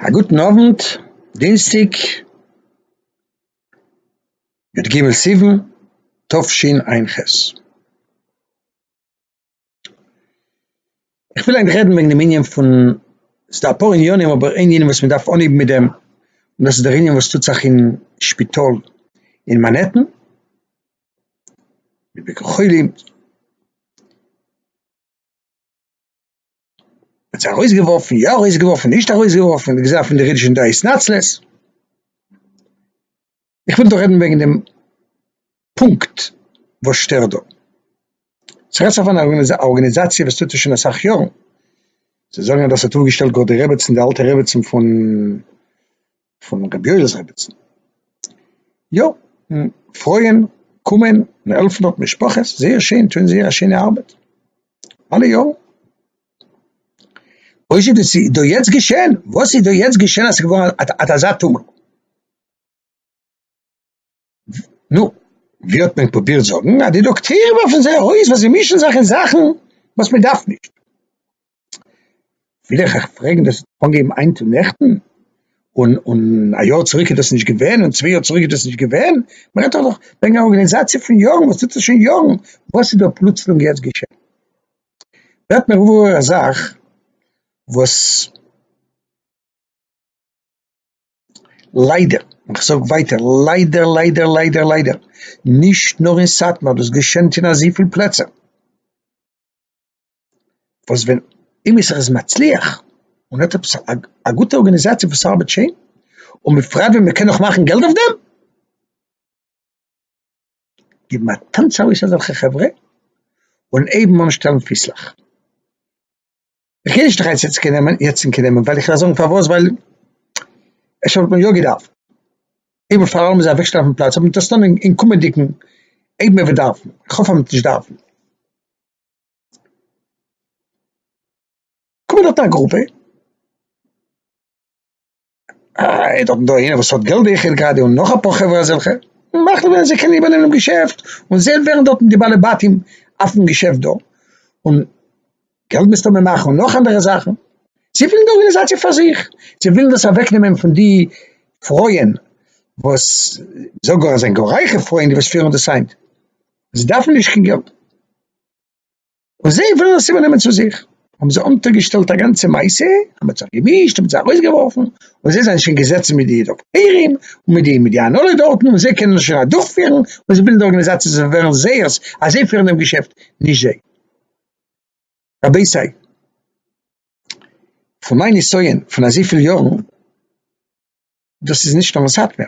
א גוטן אוונט, דינסטיג, י ג סיוון תשפ ח. כ'וויל ענק רעדן וועגן דעם ענין פון, ס'איז דא אפאר ענינים אבער איין ענין וואס מ'דארף אנהייבן מיט דעם, און דאס איז דער ענין וואס טוט זיך אין שפיטאל אין מאנהעטן, בביקור חולים. האט זיי ארויסגעווארפן, יא ארויסגעווארפן, נישט ארויסגעווארפן, די גזירה פון די רידזשענט דא איז נאצלעס. איך וויל דא רעדן וועגן דעם פונקט וואס שטערט דא. ס'רעדט זיך פון א ארגאניזאציע וואס טוט עס שוין אסאך יארן. זיי זאגן אז דאס האט אויפגעשטעלט גאר די רעבעצן, די אלטע רעבעצן פון פון רבי יואל'ס רביצן, יא, פרויען קומען און העלפן דארט משפחות, זייער שיין, טוען זייער א שיינע ארבעט אלע יארן. אויש איז דאס דא יעצט געשען, וואס איז דא יעצט געשען אז ס'איז געווארן אט אזא טומל? נו, ווי האט מען פרובירט זאגן, אז די דאקטוירים ווארפן זיי ארויס ווייל זיי מישן זיך אין זאכן וואס מען דארף נישט. וויל איך אייך פרעגן, דאס האט אנגעהויבן היינט און נעכטן? און און א יאר צוריק איז דאס נישט געווען, און צוויי יאר צוריק איז דאס נישט געווען? מען רעדט דאך וועגן א ארגאניזאציע פון יארן וואס טוט עס שוין יארן, וואס איז דא פלוצלונג יעצט געשען? ווערט מיר וואויל א זאך וואס. ליידער, איך זאג ווייטער ליידער ליידער ליידער ליידער, נישט נאר אין סאטמאר, דאס געשענט אין אזויפיל פלעצער, וואס ווען עמיצער איז מצליח און האט עפעס א גוטע ארגאניזאציע וואס ארבעט שיין, און בפרט ווען מען קען נאך מאכן געלט אויף דעם, גיבן א טאנץ ארויס אזעלכע חברה און הייבן אן שטעלן פיסלעך. איך גיי נישט דיך היינט יעצט קעיר נעמען, יעצט און קעיר נעמען, ווייל איך וועל זאגן פארוואס, ווייל אפשר וואלט מען יא געדארפט, איבער פאר אלעם איז א אוועקשטעל אויפן פלאץ, אבער מען טוט עס נאר אין קומענדיגן, אויב מען וועט דארפן, איך האף אז מען וועט נישט דארפן. קום און האלט א גרופע. אה, דארטן דא איינער וואס האט געלט זעה איך ער האט גראדע און נאך אפאר חברה אזעלכע, מאכט וועלן זיי קענען איבערנעמען דעם געשעפט, און זיי ווערן דארטן די בעלי בתים אויפן געשעפט דא, און געלט מסתמא מאכן און נאך אנדערע זאכן, זיי ווילן די ארגענעזאציע פאר זיך, זיי ווילן דאס אוועק נעמען פון די פרויען וואס, מ'זאגט גאר אז עס זענען גאר רייכע פרויען די וואס פירן דאס היינט, זיי דארפן נישט קיין געלט. און זיי ווילן עס איבערנעמען צו זיך, האבן זיי אונטערגעשטעלט א גאנצע מעשה, האבן זיך געמישט, האבן זיי ארויסגעווארפן, און זיי זענען שוין געזעצן מיט די דאקטוירים, און מיט די מיט די הנהלה דארטן, און זיי קענען עס שוין אדורכפירן, און זיי בילדן די ארגאניזאציע, זיי ווערן זעירס אז זיי פירן דעם געשעפט, נישט זיי. רבותי, פון מיין נסיון פון אזויפיל יארן, דאס איז נישט נאר אין סאטמער,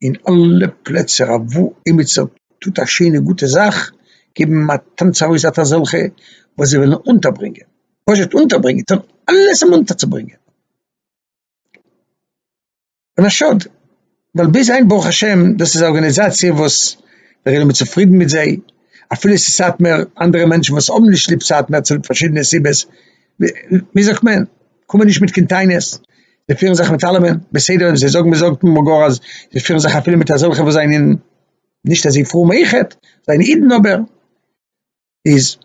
אין אלע פלעצער אוואו עימיצער טוט א שיינע גוטע זאך, געבן אים א טאנץ ארויס אט אזעלכע וואס זיי ווילן אונטערברענגען, פשוט אונטערברענגען, טון אלעס אים אונטערצוברענגען. און א שאד, ווייל ביז היינט ברוך השם דאס איז א ארגאניזאציע וואס דער עולם איז צופרידן מיט זיי, אפילו עס איז סאטמער, אנדערע מענטשן וואס האבן נישט ליב סאטמער צוליב פארשידענע סיבות, ווי זאגט מען, קומען נישט מיט קיין טענות, זיי פירן זיך מיט אלעמען בסדר, און זיי זאגן מ'זאגט אמאל גאר אז זיי פירן זיך אפילו מיט אזעלכע וואס זענען נישט אזוי פרום אויכעט, זענען אידן אבער איז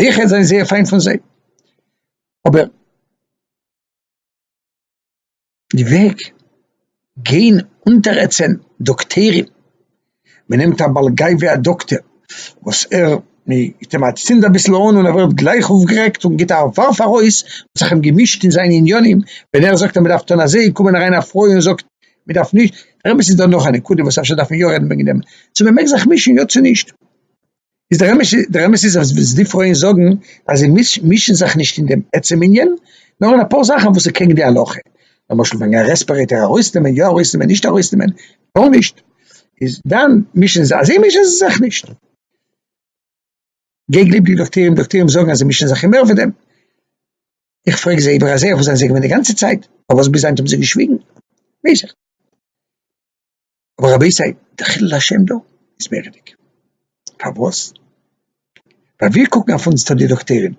אויכעט זענען זייער פיין פון זיי, אבער. די וועג גיין אונטערעצען דאקטערים, מען נעמט א בעל גייווע א דאקטער וואס ער מ'גיט אים א צינד אביסל אן און ער ווערט גלייך אויפגערעגט און גיט א ווארף ארויס, מ'האט זיך אים געמישט אין זיינע עניינים, ווען ער זאגט אז מ'דארף טון אזוי קומען אריין א פרוי און זאגט מ'דארף נישט, רבותי ס'איז דא נאך א נקודה וואס אפשר דארף מען יא רעדן וועגן דעם, צו מ'מעג זיך מישן יא צו נישט. איז דער אמת דער אמת איז אז די פרויען זאגן אז זיי מישן זיך נישט אין דעם עצם ענין, נאר אין אפאר זאכן וואס איז קעגן די הלכה, למשל וועגן א רעספערעיטער ארויסנעמען יא ארויסנעמען נישט ארויסנעמען גארנישט, איז דאן מישן זיי אזוי מישן זיי זיך נישט. געגליב די דאקטוירים דאקטוירים זאגן אז זיי מישן זיך אין מער פון דעם, איך פרעג זיי איבער אזוי אויך זענען זיי געווען די גאנצע צייט, פארוואס ביז היינט האבן זיי געשוויגן? ווייס איך. אבער רבותי די חילול השם דא איז מוראדיג, פארוואס? ווייל ווי קוקן אויף אונז די דאקטוירים,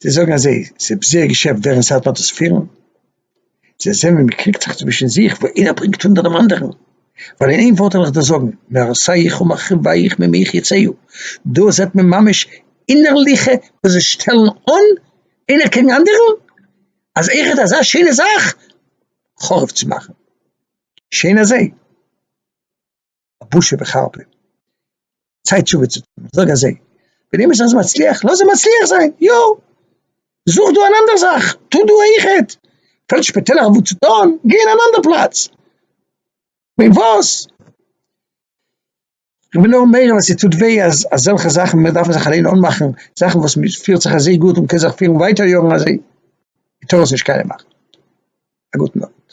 זיי זאגן אז ס'איז זייער געשעפט ווער אין סאטמאר האט דאס פירן, זיי זעהן ווי מ'קריגט זיך צווישן זיך, ווי איינער ברענגט אונטער דעם אנדערן, ווייל אין איין ווארט וועל איך דיר זאגן, מהרסייך ומחריבייך ממך יצאו, דא זעט מען ממש אינערליכע וואס זיי שטעלן אן איינער קעגן אנדערן, אז איך האב אזא שיינע זאך חרוב צו מאכן. שוין אזוי, א בושה וחרפה, צייט תשובה צו טון, זאג אזוי, ווען אימער סאיז מצליח, לאז ער מצליח זיין, יא, זוך דא אן אנדער זאך, טו דא אויכעט, פעלט שפעטעלער וואו צו טון, גיי אין אן אנדער פלאץ, ווען וואס. איך בין נאר מעיר אז ס'טוט וויי אז אזעלכע זאכן מיר דארפן זיך אליין אנמאכן זאכן וואס מען פירט זיך אזוי גוט און מען קען זיך פירן ווייטער יארן אזוי, מען טאר עס נישט קיינעם מאכן. א גוטן אווענט.